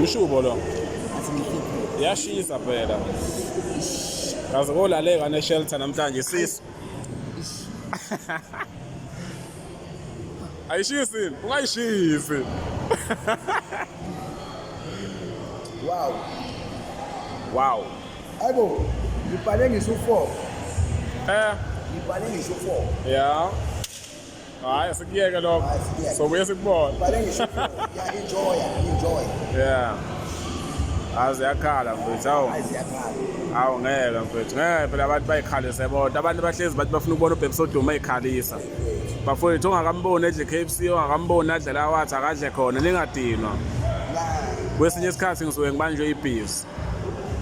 Mshubo lo. Yashisa phela. Kaze kolaleka ne shelter namhlanje sisu. Ayishisi, ungayishisi. Wow. Wow. Ayibo, ngibhale ngisho u4. Eh. Ngibhale ngisho u4. Yeah. Hayi sikuyeke lokho. So buye sikubone. Bale ngisho. Yeah, enjoy, enjoy. Yeah. Azi yakhala mfethu awu. Azi yakhala. Awu ngeke mfethu. Ngeke phela abantu bayikhalise bodwa. Abantu bahlezi bathi bafuna ukubona uBhebhi Soduma eyikhalisa. Bafowethu ongakamboni edle KFC ongakamboni adlela wathi akadle khona ningadinwa. Kwesinye isikhathi ngisuke ngibanjwe ibhizi.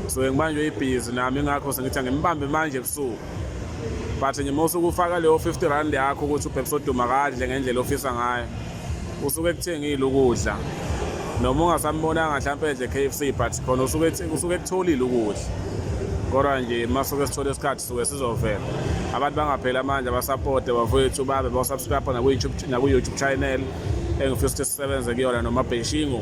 so ngibanjwe ibhizi nami ngakho sengithi ngimbambe manje ebusuku but nje uma usuke ufaka leyo 50 rand yakho ukuthi ubhebisa oduma kadle ngendlela ofisa ngayo usuke ekuthengile ukudla noma ungasambonanga mhlawumpe edle KFC but khona usuke usuke ekutholile ukudla kodwa nje masuke sithole isikhathi suke sizovela abantu bangapheli amandla basapote bafowethu babe bawusubscribe naku-youtube channel engifisa ukuthi sisebenze kuyona noma bheshingo